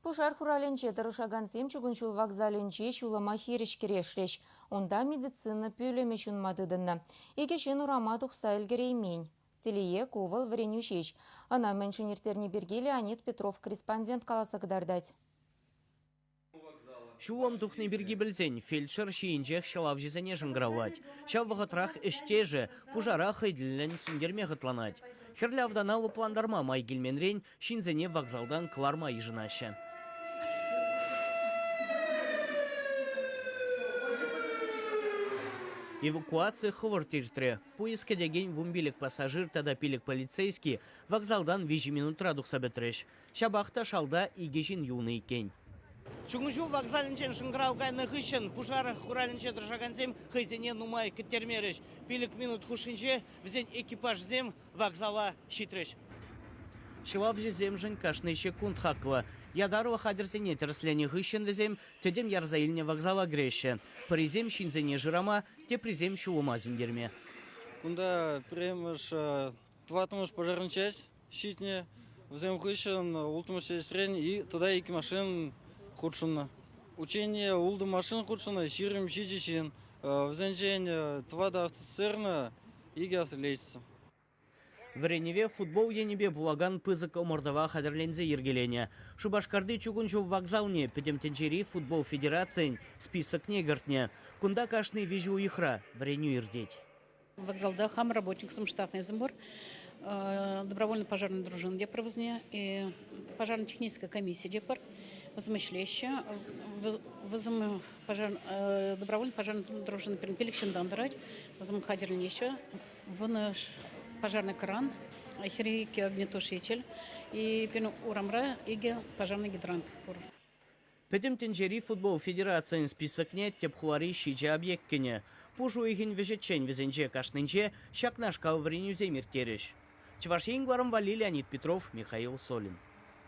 Пушар хуралӗнче тӑрӑшакансем чугун ҫул вокзалӗнче ҫулӑма хирӗҫ кӗрешрӗҫ. Унта медицина пӳлӗмӗ ҫунма тытӑннӑ. Икӗ ҫын урама тухса ӗлкӗреймен. Телее, ку вӑл вӗренӳ ҫеҫ. Ӑна мӗншӗн ирттерни пирки Леонид Петров корреспондент каласа кӑтартать. Ҫулӑм тухни пирки пӗлсен фельдшер ҫийӗнчех ҫӑлавҫӑсене шӑнкӑравлать. Ҫав вӑхӑтрах ӗҫтешӗ пушара хӑй тӗллӗн сӳнтерме хӑтланать. Хӗрлӗ автана лӑплантарма май килменрен ҫынсене вокзалтан кӑларма йышӑнаҫҫӗ. Эвакуаци хӑвӑрт иртрӗ. Пуйӑс кӗтекен вунпилӗк пассажир тата пилӗк полицейски вокзалтан виҫӗ минутра тухса пӗтрӗҫ. Ҫапах та шалта икӗ ҫын юлнӑ иккен. Чукун ҫул вокзалӗнчен шӑнкӑрав кайнӑ хыҫҫӑн пушар хуралӗнче тӑрӑшакансем хӑйсене нумай кӗттермерӗҫ. Пилӗк минут хушшинче вӗсен экипажсем вокзала ҫитрӗҫ. Ҫӑвавҫӑсемшӗн кашни ҫеккунт хаклӑ. Ятарлӑ хатӗрсене тӗрӗсленӗ хыҫҫӑн вӗсем тӗтӗм ярса илнӗ вокзала кӗреҫҫӗ, пӗрисем ҫынсене шырама, теприсем ҫулӑма сӳнтерме. Кунта пӗрремӗш, тӑваттӑмӗш пожарнӑй ҫитнӗ. Вӗсем хыҫҫӑн улттӑмӗш сестрен тата икӗ машин хутшӑннӑ. Учение ултӑ машин хутшӑннӑ, ҫирӗм ҫичӗ ҫын. Вӗсенчен тӑватӑ офицерна икӗ аслетчица. Вӗренӗве футбол енӗпе пулакан пысӑк ӑмӑртӑва хатӗрленсе йӗркеленӗ. Шупашкарти чукун ҫул вокзалне Пӗтӗм тӗнчери футбол федерацийӗн списокне кӗртнӗ. Кунта кашни виҫӗ уйӑхра вӗренӳ иртет. Вокзалта хам работниксем штатнӑйсем пур. Добровольно пожарная дружина те пур вӗсене. Пожарно-техническая комиссия те пур. Вӗсем ӗҫлеҫҫӗ. Вӗсем пожар, добровольно пожарная дружина пирӗн пилӗк ҫынтан тӑрать. Вӗсем хатӗрленеҫҫӗ. Вынӑш пожарный кран, хирейки огнетуш ечел. И пирӗн урамра икӗ пожарный гидрант пур. Пӗтӗм тӗнчери футбол федерацийӗн списокне тӗп хулари ҫичӗ объект кӗнӗ. Пуш уйӑхӗн вӗҫӗччен вӗсенче кашнинче ҫакнашкал вӗренӳсем ирттерӗҫ. Чӑваш Ен кӑларӑм валли Леонид Петров, Михаил Солин.